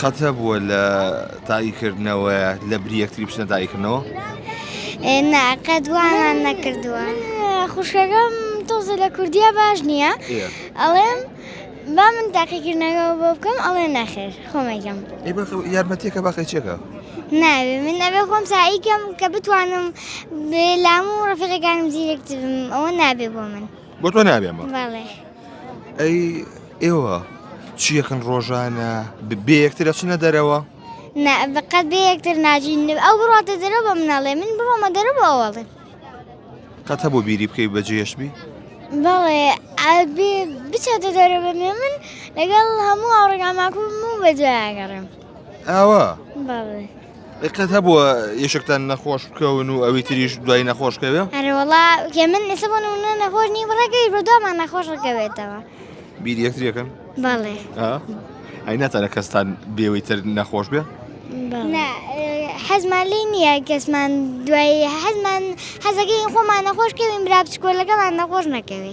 قەتە بووە لە تاقیکردنەوە لە بری یەکتری بچنە تاقیکردنەوە؟ نا قەت وامان نەکردووە خوشکەکەم تۆزە لە کوردیا باش نییە ئەڵێم با من تاقیکردنەوە بۆ بکەم ئەڵێ نەخێر خۆمەگەم یارمەتێکە باقی چێکە؟ ناوێ من ئەوێ خۆم ساییکەم کە بتوانم لام و ڕفەکانم زیرەکتبم ئەوە نابێ بۆ من. بۆ تۆ نابێمە ئەی ئێوە چیەکەن ڕۆژانە بێ یەکتر ئەچنە دەرەوە بەقەت بێ یەکتر ناژین ئەو بڕاتە دەرە بە مناڵێ من بڕۆمە دەرە بۆ ئەوڵێ قەت هەبوو بیری بکەی بەجێشبی بەڵێ بچێتە دەرە بە من لەگەڵ هەموو ئاڕگاماکوم و بەجێگەڕێم ئاوا قەت هەبووە یەشکتان نەخۆش بکەون و ئەوی تریش دوای نەخۆشکەوێ ئەرەوەڵا کە من ئێستا بۆ نمونە نەخۆش نی بڕەکەی بۆ دومان نەخۆش ڕکەوێتەوە بیر یەکتریەکەن بەڵێ ئەی ناتەرە کەستان بێەوەی تر نەخۆش بێ حەزمان لی نییە کەسمان دوای حەزمان حەزەکەی خۆمان نەخۆش کەوین برا بچکۆلەکەمان نەخۆش نەکەوێ